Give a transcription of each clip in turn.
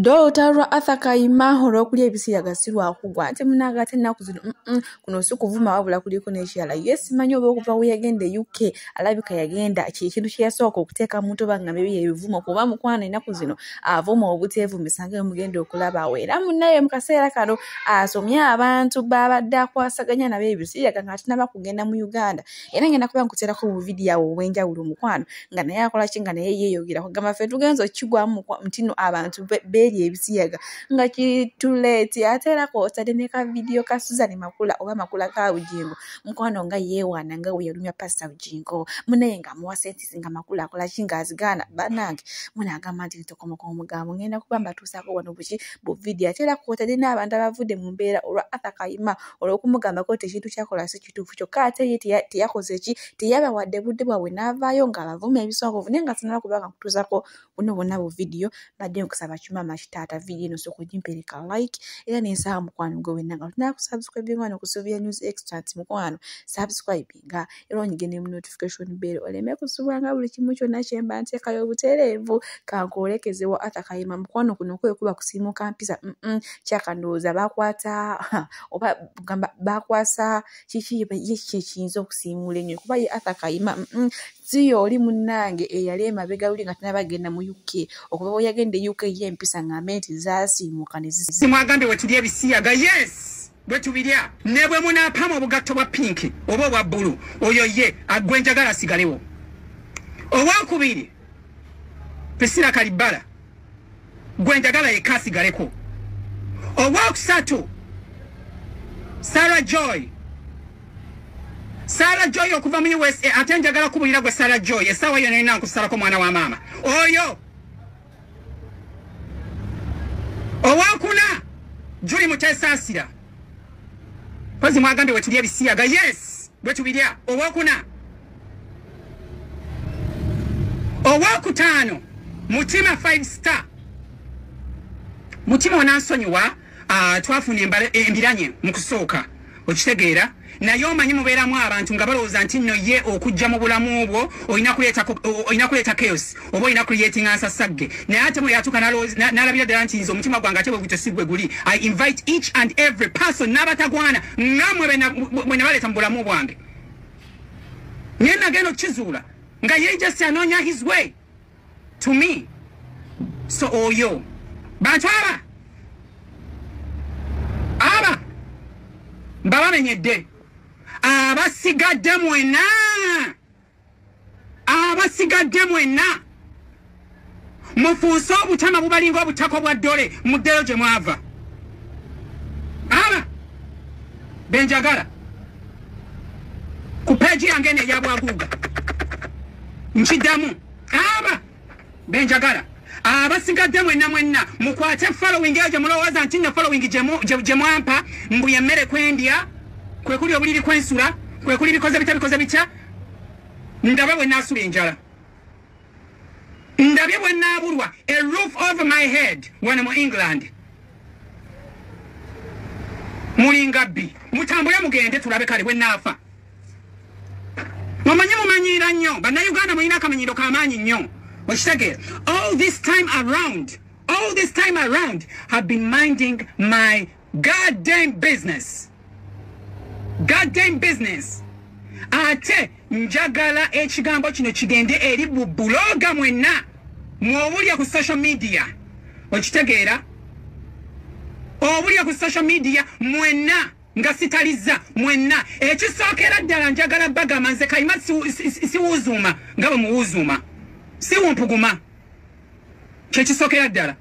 Dokita lwa Arthur Kayima olw'okulya ebisiyaga si lwakugwa ate munange ate ennaku zino kuno si kuvuma wabula kuliko n'ekirala ye simanyi oba okuva we yagenda e UK alabika yagenda kyekintu kye yasooka okuteeka mu ntoba nga mibye ebivumo kuba mukwano ennaku zino avuma obuteevumisa nga emugenda okulabawo era munaye mu kaseera kano asomye abantu baabadde akwasaganya nabo ebisiyaga ng'atinaba kugenda mu Uganda era ngenda kuba nkuterako obuvidiyo awo obwenjawulo omukwano nga naye akola ki nga naye yeeyogera kugamba ffe tugenza okukigwamu nti no abantu beeri ebisiyaga nga kituleeti ate era kwotadde ne ka vidiyo ka suzani makula oba makula ka bujingo mukwano nga yeewaana nga weyalumya pasita bujingo munaye nga amuwa sentisi nga makula akola ki nga azigaana banange munaagamba nti ntokomoka omugambo ngenda kuba mbatuusaako wano buki bu vidiyo ate era kwotadde n'abantu abavudde mu mbeera olwa athakayima olw'okumugambako nti ekintu kyakola si bituufu kyokka ate ye teyakoze ki teyabawadde budde bwabwe n'avaayo ng'abavuma ebisongovu naye nga sinaba kuba nga kutuuzako buno bwonna bu vidiyo mbadde nkusaba kimaama kitaata vidiyo eno sooka ogimpereka like era nensaba mukwano gwe wenna nga tulina kusubscribinga wano ku sylvia news extant mukwano subscribinga era onyige ne mu notification bell oleme kusubwanga buli kimu kyonna kyemba nteekayo obutereevu kankoolekezewo atakayima mukwano kuno kwekuba kusiimuka mpisa kyakandowooza bakwata oba gamba bakwasa kiki yekiki ekiyinza okusiimuula ennyo kuba ye arthur kayima siyo oli munnange eyali emabega luli nga tena bagenda mu uk okuva bwe yagenda e uk ye empisa ng'ambe nti zaasiimuka nezimwagambye wetuli ebisiyaga yes bwe tubirya ne bwe munaapaamu obugatto bwa pinki oba obwa bbulu oyo ye agwe njagala asigalewo owokubiri prisila kalibbala gwe njagala yekka asigaleko owokusatu sara joy sara joy okuva mu usa ate njagala kubulira gwe sara joy esaawa yona erina nkusalako mwana wa maama oyo owokuna juli mutesaasira Kozi mwagambye wetulya ebisiyaga yes bwetubirya owokuna owokutaano mutima five star mutima onansonyiwa uh, twafuna embiranye mu kusooka okitegeera naye omanyi mubeeramu abantu nga balowooza nti nno ye okujja mu bulamu bwo olina kuleeta chaos oba olina creatinga nsasagge naye ate mweyatuuka nalabira ddala nti nze omutima gwange ate bwegutyo si gwe guli i invite each and every person n'abatagwana ngamwe bwe nabaleeta mu bulamu bwange naye nagenda okukizuula nga ye just anoonya his way to me so oyo bakyala aba mbabamenyedde abasigadde mwena abasigadde mwena mufuuse obutama bubalinga obutako bwa ddole muddeyo gye mwava aba benjagala ku peegi yange neyabwaguuga nkiddamu aba benjagala abasigadde mwenna mwenna mukwate following eyo gyemulowooza nti nno following gyemwampa mbu yemmere kwendya kwekuli obuliri kwensula kwekuli bikoze bitya bikoze bitya ndabe bwe naasula enjala ndabye bwe naabulwa a roof of my head wano mu england mulinga bbi mutambule mugende tulabe kale bwe naafa mumanyi mumanyiira nnyo bannayuganda mulina akamanyiiro kamaanyi nnyo okitegeera all this time around all this time around have been minding my goddam business goddam business ate njagala ekigambo kino kigende eri bubuloga mwenna mwobulya ku social media okitegeera obulya ku social media mwenna nga sitalizza mwenna ekisookera ddala njagala bagamba nze kayima siwuzuuma nga bwe muwuzuuma siwumpuguma kyekisookera ddala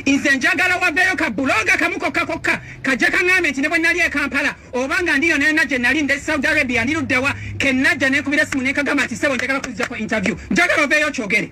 nze njagala waveeyo ka buloga kamu kokka kokka kajja kaŋambe nti ne bwe nali ekampala oba nga ndiyo nayona gye nali nde saudi arabia ndiruddewa kenajja nekubira simu nekagamba nti sebo njagala kuzijako interview njagala oveeyo kyogere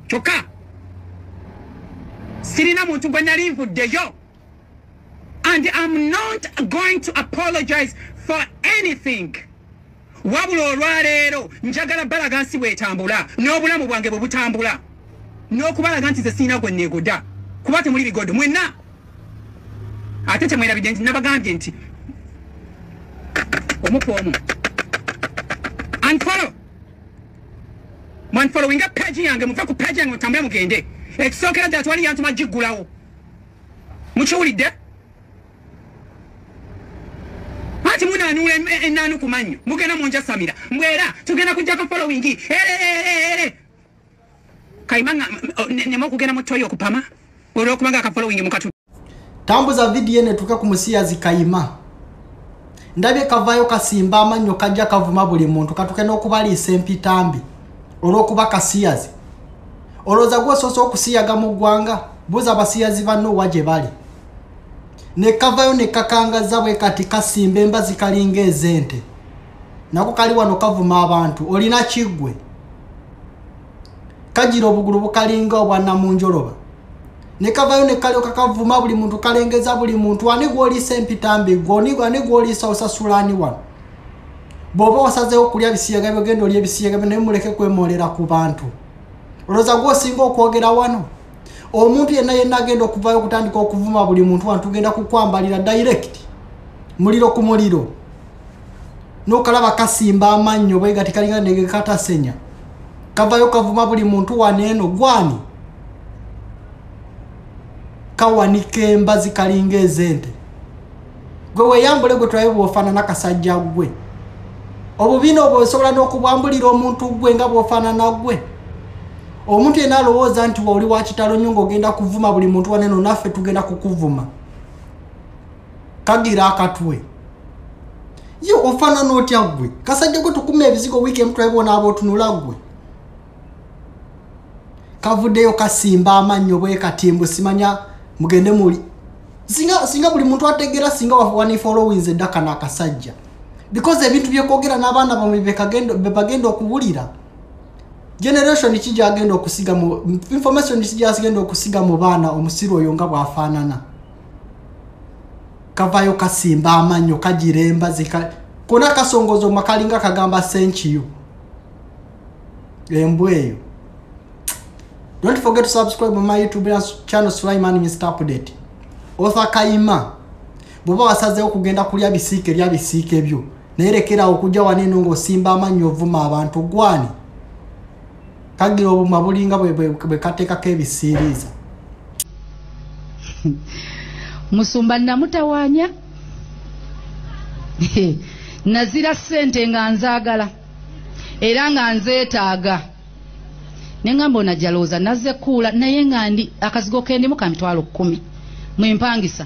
kyokka sirina muntu gwe nali nvuddeyo and am not going to apologize for anything wabula olwaleero njagala balaga nsi bwetambula n'obulamu bwange bwe butambula n'okubalaga nti ze sirina gwe neegoda kuba temuli bigodo mwenna ate temwerabidde nti nabagambye nti omuku omu and follow Man following up page yange muve ku page yange mutambule mugende. Ekisookera ddala twali yantuma giggulawo. Mukiwulidde? Ati muna anula ennaanu ku mannyo. Mugenda mu njasamira. Mbwera tugenda kujjako following. Ere ere ere. Kayima nga oh, nema okugenda mu toyo okupama. Olw'okuba nga ka following mukatu. tambuza vidiyo eno etuuke ku musiyazi kayima ndabye kavaayo kasimba amannyo kajja kavuma buli muntu katuke n'okubaliisa empitambi olw'okuba kasiyazi olowooza gwosoose okusiyaga mu ggwanga buuza abasiyazi banno wa gye bali ne kavayo ne kakangaza bwe kati kasimba embazi kalinga ez'ente nako kali wano kavuma abantu olina kiggwe kagira obugulu bukalinga obwa namunjoloba ne kavayo ne kalyoka kavuma buli muntu kalengeza buli muntu ani gwoliisa empitambi goni ani gwoliisa osasula ani wano bw'oba wasazeewo okulya bisiyaga byogenda oli ebisiyaga byo naye muleke kwemoolera ku bantu olowooza gwosinga okwogera wano omuntu yenna yenna agenda okuvayo okutandika okuvuma buli muntu wano tugenda kukwambalira direct muliro ku muliro nokalaba kasimba amannyo bwega tikalinga ndege katasenya kavayo kavuma buli muntu waneeno gwani kawanika embazi kalinga ezente gwe weyambule gwe tulabe bwofaanana kasajja gwe obubina obwo osobola n'okubwambulira omuntu gwe nga bwofaanana gwe omuntu yena alowooza nti waoli wakitalo nyo ngaogenda kuvuma buli muntu waneno naffe tugenda kukuvuma kagira akatwe ye ofanana otya gwe kasajja gwe tukuma ebizigo wiiki emu twebona abotunula gwe kavuddeyo kasimba amannyo bwekatimbu simanya mugende muli singa singa buli muntu ategeera singa wanifolowinze eddaka n'akasajja because ebintu byekwogera n'abaana bamwe bebagenda okuwulira generation ki gyagenda okusiga mu information ki gyagenda okusiga mu baana omusiru oyo nga bwafaanana kavayo kasimba amanyo kagira embazi kona kasongozo makalinga kagamba senkiyo embwa eyo don't forget to subscribe my youtube channel sulaiman mr update otha kaima bwoba wasazeewo kugenda kulya bisiike lya bisiike byo naye lekerawo okujja waneeno ng'osimba amannyo ovuma abantu gwani kagira obuma bulinga bwekateekako ebisiiriiza musumba namutawanya nazira sente nga nzagala era nga nzetaaga nengamba onajalooza naze kuula naye nga ndi akazigo kendimu ka mitwalo kumi mwempangisa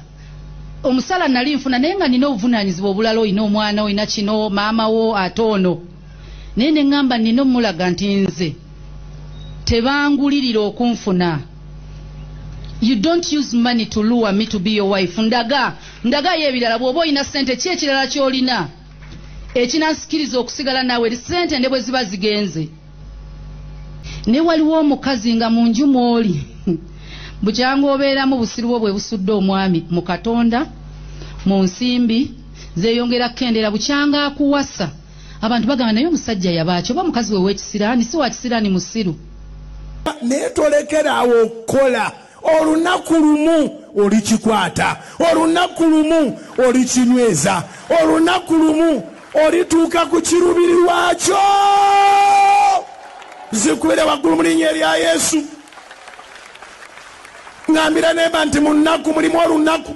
omusala nali nfuna naye nga nina obuvunanyizibwa obulala olina omwana olina kino maama wo ate ono naye ne ŋŋamba nnina omulaga nti nze tebangulirira okunfuna you don't use money to lure me to be your wife ndaga ndagayo ebirala bw'oba olina ssente ki ekirala ky'olina ekinansikiriza okusigala naawe ssente ne bwe ziba zigenze ne waliwo omukazi nga mu nju mw'oli bukyanga obeeramu busiru bwo bwe busudde omwami mu katonda mu nsimbi zeyongera kukendera bukyanga akuwasa abantu bagamba naye omusajja yabaaki oba mukazi we wekisiraani si wakisiraani musiru naye tolekera awo okukola olunaku lumu olikikwata olunaku lumu olikinyweza olunaku lumu olituuka ku kirubiri lwakyo zikubire waggulu mu linnya erya yesu ngambira nemba nti mu nnaku mulimu olunaku